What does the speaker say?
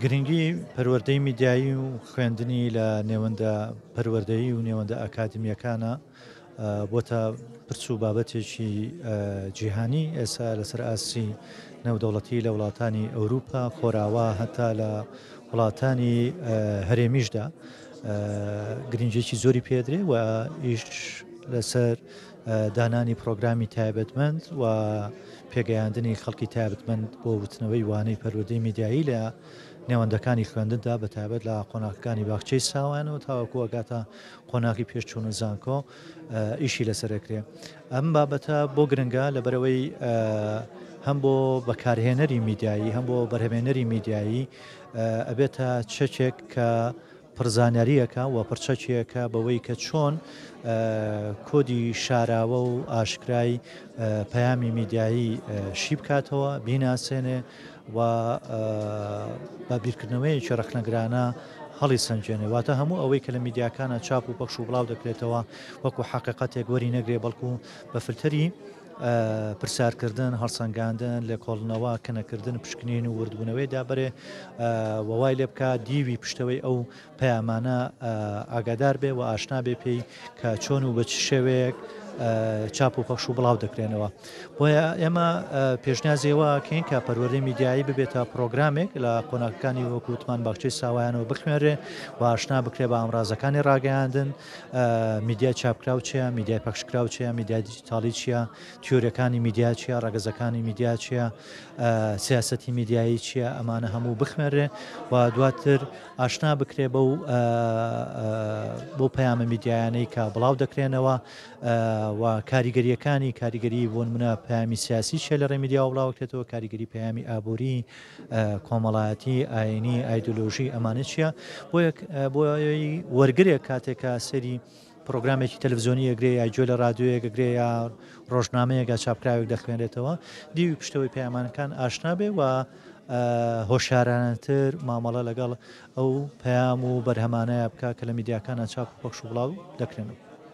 گرنگی پەروەردەی میدیایی و خوێندنی لە نێوەندە پەروەردەیی و نێوەندە ئەکادمیەکانە بۆتە پرس و بابەتێکی جیهانی ئێسا لەسەر ئاسی نێودەوڵەتی لە وڵاتانی ئەوروپا خۆراوا هەتا لە وڵاتانی هەرێمیشدا گرنجێکی زۆری پێدرێ و ئیش لەسەر دانانی پرۆگرامی تایبەتمەند و پێگەیاندنی خەڵکی تایبەتمەند بۆ وتنەوەی وانەی پەروەردەی میدیایی لە نێوەندەکانی خوێندندا بە تایبەت لە قۆناغەکانی باخچەی ساوان و تاوەکو ئەگاتە قۆناغی پێشچوون و زانکۆ ئیشی لەسەرکرێ ئەم بابەتە بۆ گرنگە لە بەرەوەی هەم بۆ بەکارهێنەری میدیایی هەم بۆ بەرهمێنەری میدیایی ئەبێتە چەکێک کە پڕ زانیارییەکە و پڕ چەکییەکە بەوەی کە چۆن کۆدی شاراوە و ئاشکرای پەیامی میدیایی شی بکاتەوە، بیناسێنێ و بە بیرکردنەوەیەکی ڕەخنەگرانە هەڵیسەنگێنێ. واتە هەموو ئەوەی کە لە میدیاکانە چاپ و پەخش و بڵاو دەکرێتەوە وەکوو حەقیقەتێک وەرینەگرێ، بەڵکوو بە فلتەری. پرسیارکردن، هەڵسەنگاندن، لێکۆڵنەوە، کنەکردن، پشکنین و وردبوونەوەی دابرێ و وای لێ بکا دیوی پشتەوەی ئەو پەیامانە ئاگادار بێ و ئاشنا بێ پێی کە چۆن و بە چ شێوەیەک چاپ و پەخش و بڵاو دەکرێنەوە بۆیە ئێمە پێشنازیەوە کەین کە پەروەری میدیایی ببێتە پرۆگرامێک لە قۆناکەکانی وەکووتمان باخچەی ساوایانەوە بخوێنرێ و ئاشنا بکرێ بە ئامرازەکانی ڕاگەیاندن میدیای چاپکراو چیە، میدیای پەخشکراو چیە، میدیای دیجیتاڵی چیە، تیۆرەکانی میدیا چیە، ڕەگەزەکانی میدیا چیە، سیاسەتی میدیایی چیە، ئەمانە هەموو بخمێرێ و دواتر ئاشنا بکرێ بەو بۆ پەیامە میدیایانەی کە بڵاو دەکرێنەوە و کاریگەریەکانی کاریگەری بۆن منە پامی سیاسی چێ لە ڕێمیدیا و بڵاوکرێتەوە کاریگەری پەیامی ئابووری کۆمەڵایەتی، ئایینی، ئایدۆلۆژی ئەمانە چییە؟ بۆیە وەرگرێک کاتێک کە سەیری پرۆگرامێکی تەلەڤزیۆنی ئەگرێ یا گوێ لە رادیۆیەک ئەگرێ یا ڕۆژنامەیەگە چاپکراوێک دەخوێنێتەوە دیوی پشتەوەی پەیامانەکان ئاشنا بێ و هۆشارانەتر مامەڵە لەگەڵ ئەو پەیام و بەرهەمانەیە بکە کە لە میدیاکانە چاپ پەخش و بڵاو دەکرێنەوە.